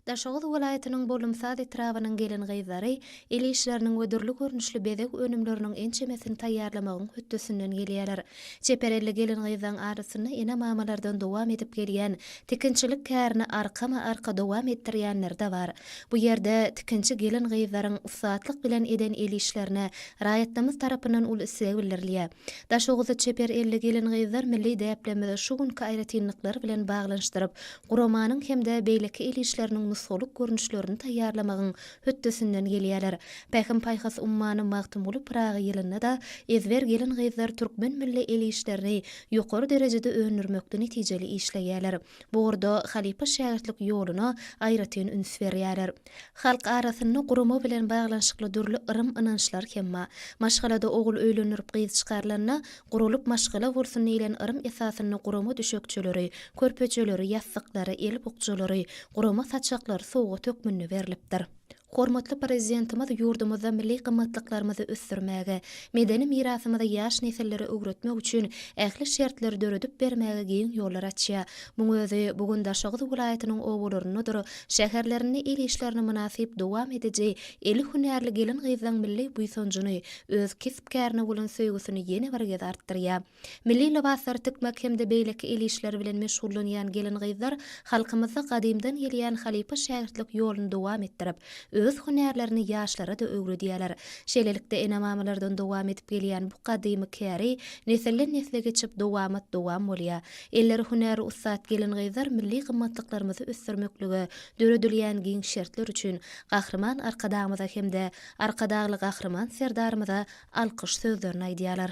Daşoguz welaýatynyň Bolumsaz etrabynyň gelin-gyzlary el işleriniň we dürli görnüşli bezeg önümleriniň ençemesini taýýarlamagyň hötdesinden gelýärler. Çeper elli gelin-gyzlaryň arasynda ene-mamalardan dowam edip gelýän tikinçilik kärini arkama-arka dowam etdirýänleri-de bar. Bu ýerde tikinçi gelin-gyzlaryň ussatlyk bilen eden el işlerine raýatlarymyz tarapyndan uly isleg bildirilýär. Daşoguzly çeper elli gelin-gyzlar milli däplerimizi şu günki aýratynlyklary bilen baglanyşdyryp, guramanyň hem-de beýleki el işleriniň nusgalyk görnüşlerini taýýarlamagyň hötdesinden gelýärler. Pähim-paýhas ummany Magtymguly Pyragy ýylynda-da ezber gelin-gyzlar türkmen milli el işlerini ýokary derejede öndürmekde netijeli işleýärler. Bu ugurda halypa-şägirtlik ýoluna aýratyn üns berýärler. Halk arasynda gurama bilen baglanyşykly dürli yrym-ynançlar hem bar. Maşgalada ogul öýlendirip gyz çykarylanda, guralyp maşgala bolsun diýlen yrym esasynda gurama düşekçeleri, körpejeleri, ýassyklary, el bukjalary, gurama saçaklary sowgat hökmünde berlipdir. Hormatly Prezidentimiz ýurdumyzda milli gymmatlyklarymyzy ösdürmäge, medeni mirasymyzy ýaş nesillere öwretmek üçin ähli şertleri döredip bermäge giň ýollar açýar. Muň özi bu gün Daşoguz welaýatynyň obalaryndadyr şäherlerinde el işlerini mynasyp dowam ediji eli hünärli gelin-gyzlaň milli buýsanjyny, öz kesp-kärine bolan söýgüsini ýene bir gezartdyrýar. Milli lybaslary tikmek hem-de beýleki el işleri bilen meşgullanýan gelin-gyzlar halkymyzda gadymdan gelýän halypa-şägirtlik ýoluny dowam etdirip, öz hünärlerini ýaşlara-da öwredýärler. Şeýlelikde, ene-mamalardan dowam edip gelýän bu gadymy käri nesilden-nesle geçip, dowamat-dowam bolýar. Elleri hünäri ussat gelin-gyzlar milli gymmatlyklarymyzy ösdürmeklige döredilýän giň şertler üçin Gahryman Arkadagymyza hem-de Arkadagly Gahryman Serdarymyza alkyş sözlerini aýdýarlar.